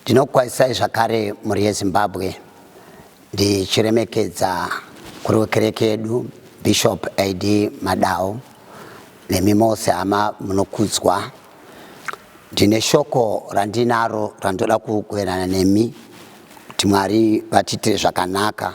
Ndinokwazisai zvakare mhuri yeZimbabwe ndichiremekedza kuri wekereke yedu Bishop AD Madao nemi mose hama munokudzwa. Ndine shoko randinaro randoda kugoverana nemi kuti Mwari vatiitire zvakanaka.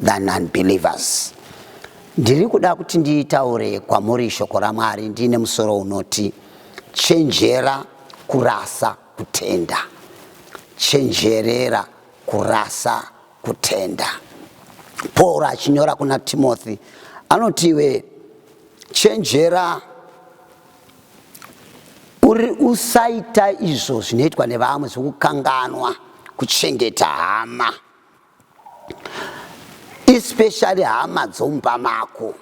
than unbelievers. Ndiri kuda kuti nditaure kwamuri shoko raMwari ndiine musoro unoti chenjera kurasa kutenda. Chenjerera kurasa kutenda. Paul achinyora kuna Timothy anoti iwe chenjera uri usaita izvo zvinoitwa nevamwe zvokukanganwa kuchengeta hama. especially hama dzomumba mako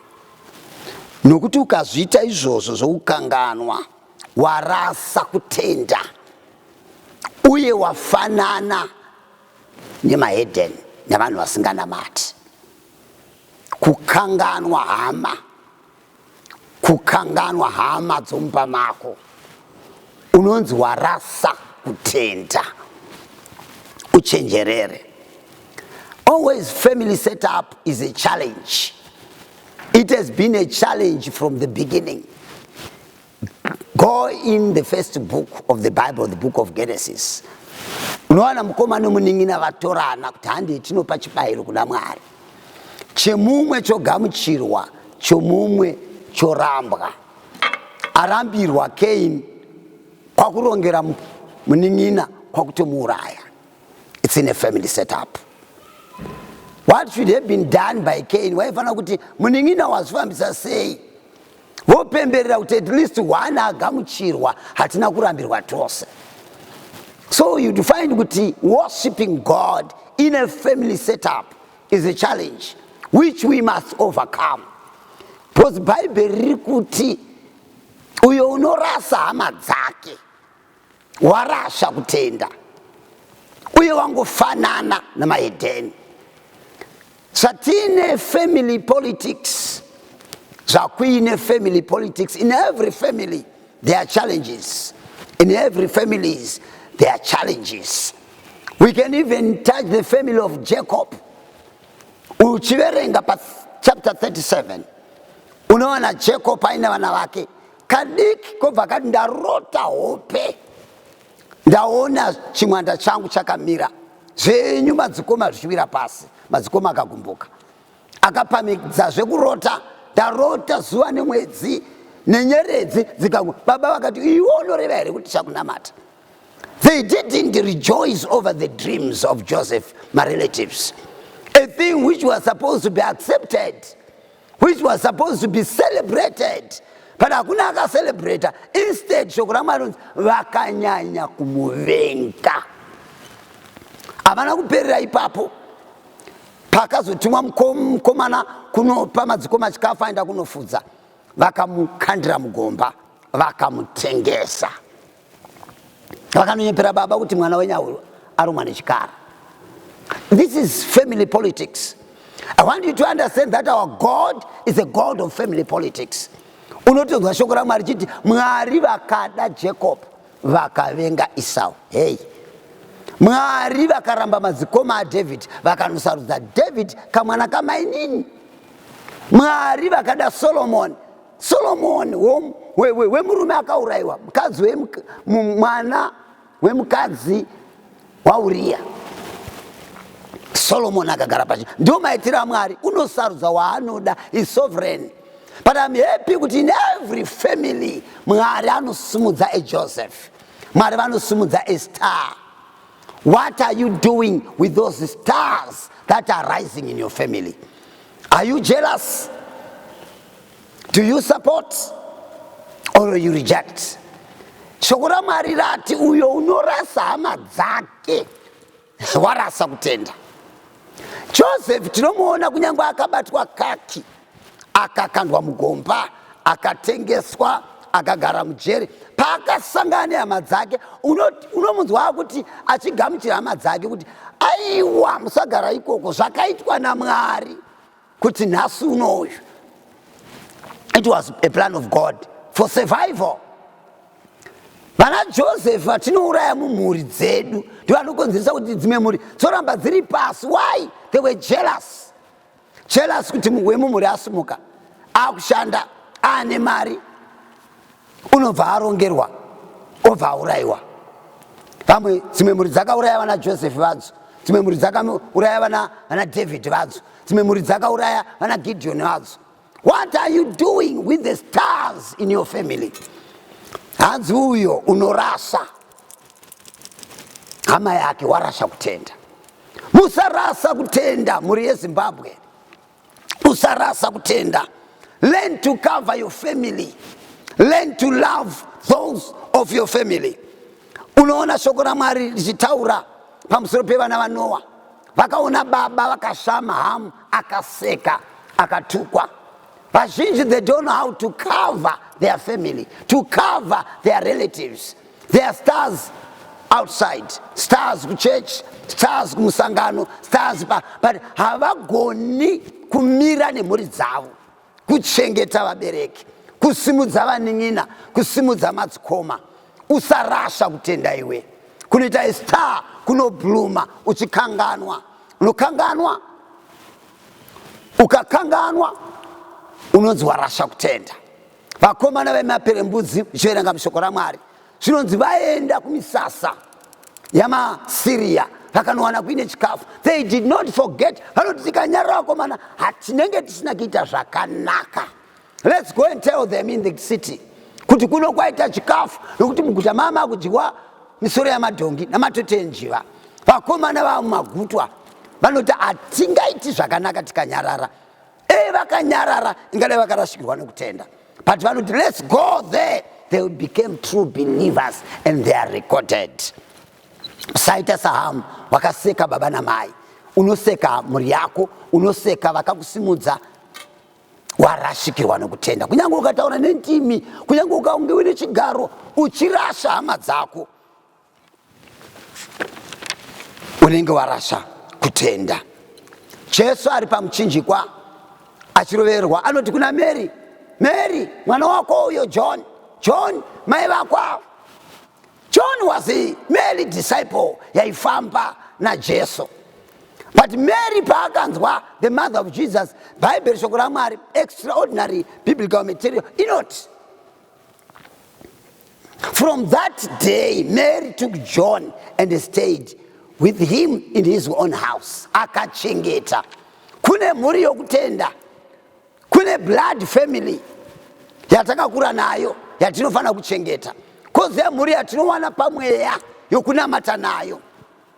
nokuti ukazviita izvozvo zvokukanganwa warasa kutenda uye wafanana nemaheden nevanhu vasinganamati kukanganwa hama kukanganwa hama dzomumba mako unonzi warasa kutenda uchenjerere always family setup is a challenge it has been a challenge from the beginning Go in the first book of the Bible, the book of Genesis. Unowana mukoma nomunin'ina vatorana kuti handei tinopa chibayiro kuna Mwari. Chemumwe chogamuchirwa, chomumwe chorambwa. Arambirwa Cain kwakurongera munin'ina kwakutomuuraya. It's in a family setup. What should have been done by Cain? Waifanira kuti munin'ina wazvifambisa sei? vopemberera kuti at least one agamuchirwa hatina kurambirwa tose so you'd find kuti worshipping god in a family setup is a challenge which we must overcome because bhaibheri riri kuti uyo unorasa hama dzake warasha kutenda uye wangofanana namahedheni zvatine family politics zvakuine family politics in every family there are challenges in every families there are challenges we can even touch the family of jacob uchiverenga pa chapter 37 unoona jacob aine vana vake kadiki kobva kati ndarota hope ndaona chimwanda changu chakamira zvenyu madzikoma zvichiwira pasi madzikoma akagumbuka akapamidza zvekurota ndarota zuva nemwedzi nenyeredzi dzikangu baba vakati iwe unoreva here kuti chakunamata they didn't rejoice over the dreams of joseph marelatives a thing which was supposed to be accepted which was supposed to be celebrated but hakuna akacelebrata instead shoko ramwari rinonzi vakanyanya kumuvenga havana kuperera ipapo pakazotumwa mukomana kunopa madzikoma chikafu aenda kunofudza vakamukandira mugomba vakamutengesa vakanonyepera baba kuti mwana wenyu arumwa nechikara this is family politics i want you to understand that our god is a god of family politics unotonzwa shoko ramwari chiti mwari vakada jacob vakavenga isau hei mwari vakaramba madzikoma adhavhidhi vakanosarudza dhavhidhi kamwana kamainini mwari vakada solomoni Solomoni wemurume akaurayiwa mukadzi mwana wemukadzi wauriya solomoni akagara pachi ndiwo maitiro amwari unosarudza waanoda isovereign but im happy kuti in every family mwari anosimudza ejoseph mwari vanosimudza estar what are you doing with those stars that are rising in your family are you jealous Do you support or you reject? Shoko raMwari rati uyo unorasa hama dzake warasa kutenda. Joseph tinomuona kunyange akabatwa kaki, akakandwa mugomba, akatengeswa, akagara mujeri. Paakasangana nehama dzake, unomunzwa uno kuti achigamuchira hama dzake kuti aiwa musagara ikoko zvakaitwa naMwari. kuti nhasi uno uyu it was a plan of god for survival vana joseph vatinouraya mumhuri dzedu ndivanokonzeresa kuti dzimwe mhuri dzoramba dziri pasi why they were jealous jealous kuti wemumhuri asimuka akushanda aane mari unobva arongerwa obva aurayiwa vamwe dzimwe mhuri dzakauraya vana josefi vadzo dzimwe mhuri dzakauraya vana vana david vadzo dzimwe mhuri dzakauraya vana gideoni vadzo what are you doing with the stars in your family hanzi uyo unorasa hama yake warasha kutenda musarasa kutenda mhuri yezimbabwe usarasa kutenda learn to cover your family learn to love those of your family unoona shoko ramwari richitaura pamusoro pevana vanowa vakaona baba vakashama hamu akaseka akatukwa vazhinji they don't know how to cover their family to cover their relatives There are stars outside, stars kuchurch, stars kumusangano, stars pa but havagoni kumira nemhuri dzavo, kuchengeta vabereki, kusimudza vanin'ina, kusimudza madzikoma. Usarasha kutenda iwe. Kunoita a star kunobluma uchikanganwa. Unokanganwa. Ukakanganwa unonzi warasha kutenda. vakomana vemaperembudzi zviverenga mushoko ramwari zvinonzi vaenda kumisasa yamasiriya vakanowana kuine chikafu they did not forget vanoti tikanyarira vakomana hatinenge tisina kuita zvakanaka lets go and tell them in the city kuti kuno kwaita chikafu nokuti muguta maa makudyiwa misoro yamadhongi namatoti enjiva vakomana vamagutwa vanoti hatingaiti zvakanaka tikanyarara dai vakanyarara ingadai vakarasikirwa nekutenda but vanoti let's go there they became true believers and they are recorded saita sahamu wakaseka baba namai unoseka mhuri yako unoseka vakakusimudza warashikirwa nokutenda kunyange ukataura nendimi kunyange ukaunge uine chigaro uchirasha hama dzako unenge warasa kutenda jesu ari pamuchinjikwa achiroverwa anoti kuna mary mary mwana wako uyo john john mai vakwavo john was a mary disciple yaifamba najesu but mary paakanzwa the mother of jesus bhaibheri shoko ramwari extraordinary biblical material inoti From that day, Mary took John and stayed with him in his own house. Akachengeta. Kune mhuri yokutenda. Kune blood family yatakakura nayo yatinofanira kuchengeta. Koze mhuri yatinowana pamweya yokunamata nayo.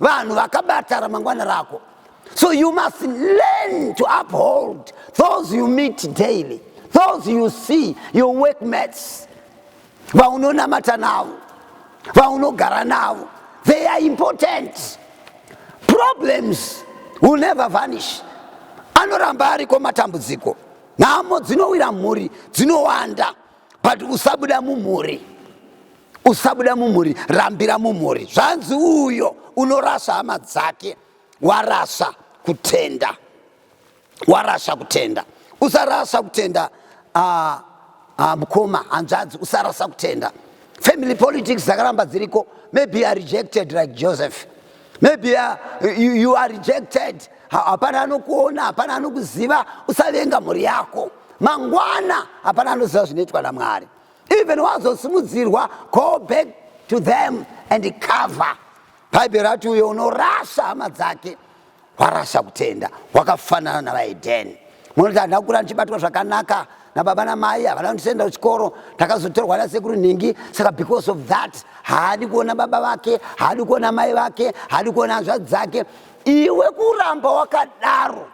vanhu vakabata ramangwana rako so you must learn to uphold those you meet daily those you see your workmates vaunonamata navo vaunogara navo they are important problems will never vanish anoramba ariko matambudziko nhamo dzinowira mhuri dzinowanda but usabuda mumhuri usabuda mumhuri rambira mumhuri zvanzi uyo unorasa hama dzake warasa kutenda warasa kutenda usarasa kutenda uh, uh, mukoma hanzvadzi usarasa kutenda family politics dzakaramba dziriko maybe you are rejected like joseph maybe you are, you, you are rejected hapana anokuona hapana anokuziva usavenga mhuri yako mangwana hapana anoziva zvinoitwa namwari even wazosimudzirwa go back to them and cover bhaibheri rati uyo unorasa hama dzake warasa kutenda wakafanana navaedheni munoti handina kukura ndichibatwa zvakanaka nababa namai havana kundisenda kuchikoro ndakazotorwa nasekuru nhingi saka because of that haadi kuona baba vake haadi kuona mai vake haadi kuona hanzvadzi dzake iwe kuramba wakadaro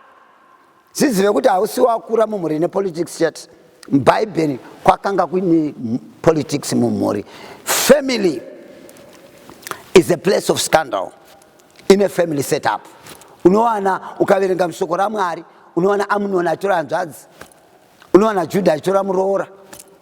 Zizive kuti hausi wakura mumhuri ine politics chete. Bhaibheri kwakanga kuine politics mumhuri. Family is a place of scandal in a family set up. Unowana ukaverenga mushoko raMwari, unowana Amunoni achitora hanzvadzi, unowana Judha achitora muroora.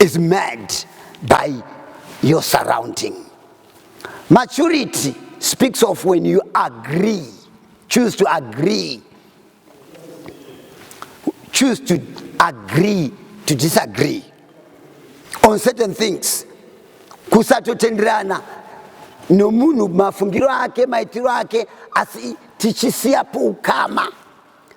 is made by your surrounding. Maturity speaks of when you agree, choose to agree, choose to agree to disagree on certain things. Kusatotenderana nomunhu mafungiro ake maitiro ake asi tichisiyapo ukama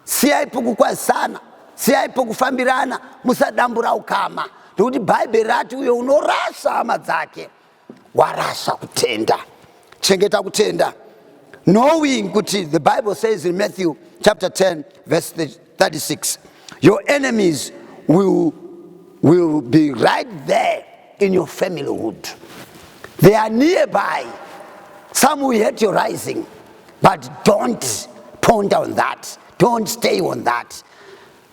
Siyai pokukwazisana, siyai pokufambirana, musadambura ukama, nokuti Bhaibheri rati uyo unorasa hama dzake warasa kutenda. Chengeta kutenda. Knowing kuti the Bible says in Matthew chapter 10 verse 36 your enemies will, will be right there in your familyhood. They are nearby. Some will hate your rising. but don't ponder on that don't stay on that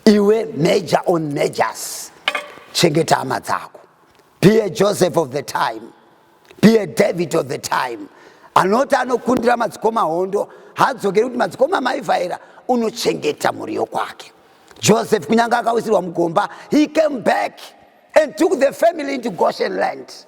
iwe major on majors chengeta hama dzako be a joseph of the time be a david of the time anoti anokundira madzikoma hondo hadzokeri kuti madzikoma maivhaira unochengeta mhuri yokwake joseph kunyange akawisirwa mugomba he came back and took the family into Goshen land.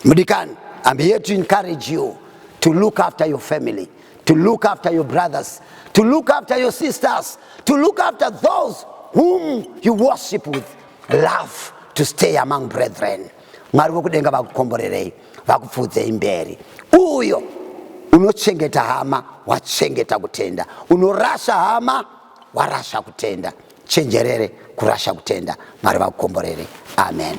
Mudikan, I'm here to encourage you to look after your family, to look after your brothers, to look after your sisters, to look after those whom you worship with love to stay among brethren. Mwari vokudenga vakukomborerei, vakupfuudzei mberi. Uyo unochengeta hama wachengeta kutenda, unorasha hama warasha kutenda. chenjerere kurasha kutenda mwari vakukomborere amen